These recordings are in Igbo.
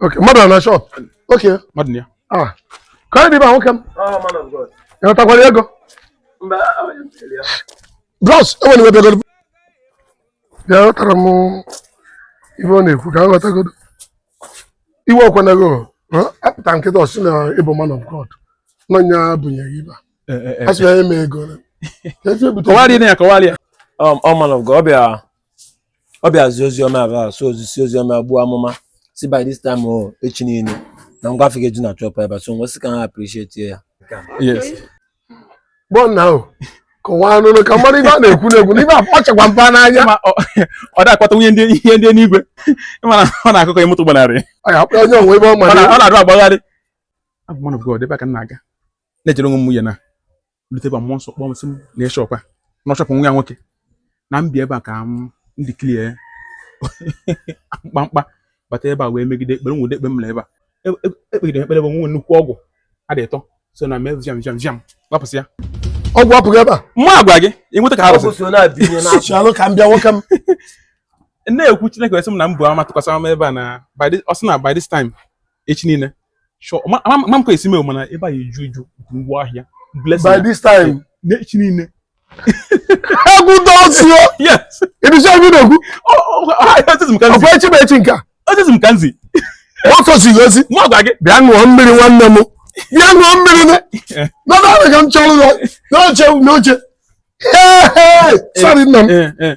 Okay, mmadụ nọ na shop. Okay. Mmadụ nọ ya. Ah. Ka anyị dị ebe a nwoke m. Oh, man of God. Ị natakwara ego? Mba, onye m sịrị ya. Bros, enwere m ebe ego. Bịa ghọtara m ife ọ na-ekwu ka m ghọtagodo. Iwe ọkwanago, apụta m kịta ọ sị na ị bụ man of God. Na nya bunye gị ibe. Asị ya eme ego. Kọwalịa ya, kọwalịa. Ọ man of God, ọ bịa ọ bịa zi ozi ọma ebe a so o zisi ozi ọma buo amụma sị by this time o echi niile na ngwa afịa ga-eju na shop ebe a so m wee sị ka a appreciate ya yes gbọọ nna ahụ kọwanụ ka m mara ibe a na-ekwu na-ekwu n'ibe akpachakwa mpa n'anya ma ọ ọ dị akpata ihe ndị enigwe ị ma na ọ na-akụkọ ihe moto gbanarị ọ ya akpọ onye o nwe ebe ọ ọ mara na- ọ na-adụ agbagharị abụ m man of God ebe a ka m na-aga na-ejere onwe m ya na m lute ebe a mmụọ nsọ kpọọ m sị m na shop a na ọ shop nwa ya nwoke na m bịa ebe a ka m ndị clear mkpamkpa bata ebe a wee megide ekpere nwude ekpe m na ebe a ekpegide e, e, e ekpere bụ nwe nnukwu ọgwụ a dị ịtọ so na mee viam viam viam gbapụsịa ọgwụ apụghị ebe a mụ agwa gị ịnweta ka arụsị ka m bịa nwoke m na-ekwu Chineke wee sị m na m bụ ama tụkwasị ama ebe a na ọ sị na by this time echi niile sure ma ma ma m ka esi mee mana ebe a eju eju nke ngwa ahịa by this time n'echi niile egwu dọsio yes ịdịcha ebe ị na-ekwu ọ ọ ọ ọkwa echi bụ echi nke a ozi e zi m ka m zi ọ sọ ziri ozi mụ agwa gị bịa ṅụọ mmiri nwanne m bịa ṅụọ mmiri nụ nọdụ ala ka m chọrọ ụlọ n'oche n'oche Hey, hey, sorry nna m ee ee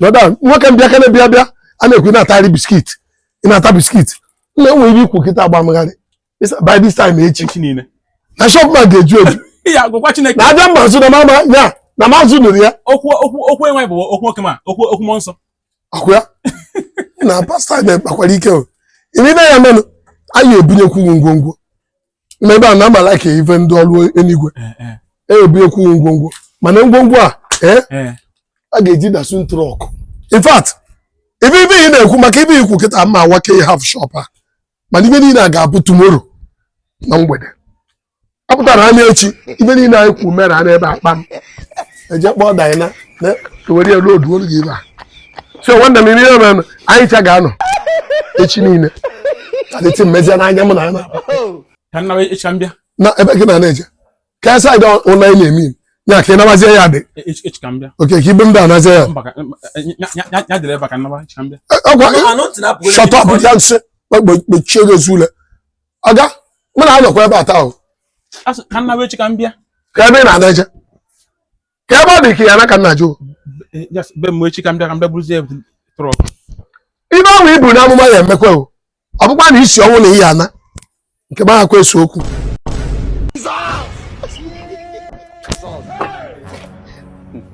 nọda nwoke m bịakene bịa bịa a na-ekwu ị na-atagharị biscuit ị na-ata biscuit nna e nwe ihe i kwu kịta a gba m gharị by this time echi echi niile na shop m a ga-eju eju ya gwakwa chineke na abịa mma azụ na mama ya na ma azụ nụrụ ya okwu okwu okwu enwe bụ okwu nwoke ma okwu okwu mmụọ nsọ ọkwa ya na pastor na ị kpakwara ike o ị ma na ya menụ anyị ebunyekwu ngwongwo n'ebe a na amala ka ife ndị ọrụ enigwe ebunyekwu ngwongwo mana ngwongwo a eh, eh. a ga-eji Datsun truck in fact ibe ibe ị na-ekwu maka ibe i kwu kịta ma awake half shop a mana ibe niile a ga-abụ tomorrow na mgbede apụtara anya echi ibe niile anyị kwu mere a n'ebe akpa m eje kpọọ Dyna were ya loaduolu gị ebe a so nwanne m ihe mere anyị cha ga-anọ echi niile adịtị mmezi n'anya mụ na ya na-akpa na ebe gị na na-eje ka side ụlọ anyị na-eme ya ka ị nabazie ya dị e, e, okay ka ibe m da anazie ya ọkwa shọtọ bụ ya m sị kpọchie gị ezu ule oga mụ na-anọkwa ebe a taa o A sị ka m naa echi ka m bịa ka ebe ị na-ana eje ka ebe ọ dị ka ya na ka nna jụ Eh, yes, be m echi ka m bịa ka m bịa buruzie truck ife ahụ i buru n'amụma ya emekwa o ọ bụkwa na isi ọnwụ na ihe ana nke m ahakwa ese okwu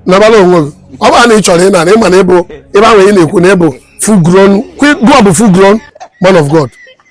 nabala onwe gị ọ bụrụ na ị chọrọ ịna na ị ma na ị bụ ebe ahụ ị na-ekwu na ị bụ full grown gụọ bụ full grown man of God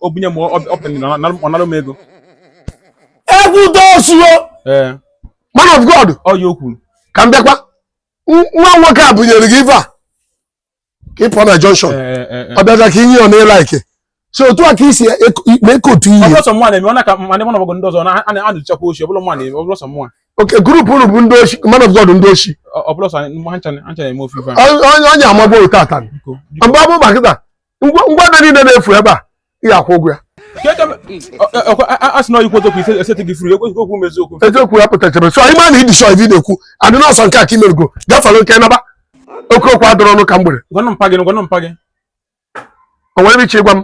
o bunye m ọpịn na ọ nara m ego egwu dosuo ee man of god ọ ya o kwuru ka m bịakwa N- nwa nwoke a bunyere gị ife a ka ị pụọ na junction Ee, ee, ee. ọ bịaza ka i nye ọ na-ele ike so otu a ka i si mee ka otu ihe ọ bụrọ sọ mụnwa na-eme ọ na ka ma ndị mụ na ọgbọgọ ndị ọzọ na a na- a na-ejechakwa oshi ọ bụrọ mụnwa na-eme ọ bụrọ sọ mụnwa okay group unu bụ ndị oshi man of god ndị oshi ọ ọ bụrọ sọ anyị mụ ha ncha na- ha ncha na-eme ofe ife a Onye- onye onye amagbo tata biko biko mgbe ọ bụ maka taa ngwa ngwa ife niile na-efu ebe a ị ga-akwụ ụgwọ ya a sị na ọyịkwu eziokwu ise esete gị furu ekwesịghị okwu m eziokwu eziokwu ya pụtachara so anyị ma na ị dị sure ife ị na-ekwu adị n'ọsọ nke a ka i merugo gafere oke naba oke okwu adọrọ ọnụ ka mgbere gwanụ mpa gị gwanụ mpa gị o nwere ife ị chọ ịgwa m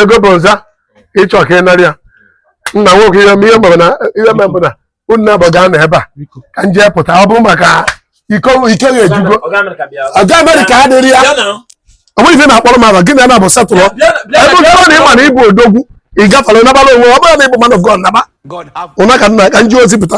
ego bụ nza ị chọ ka ị narị ya nna nwoke ihe ihe mere na ihe mere bụ na unu na-abọ ga-anọ ebe a ka m jee pụta ọ bụ maka iko ike ga-ejugo ịga America adịrị ya onwe ife na-akpọrọ m aba gị na na-abụ satụrụ ebe ọ na ị ma na ị bụ odogwu ị gafere nabala onwe ọ bụrụ na ị bụ man of God naba ụna ka m naa ka m jee ozi pụta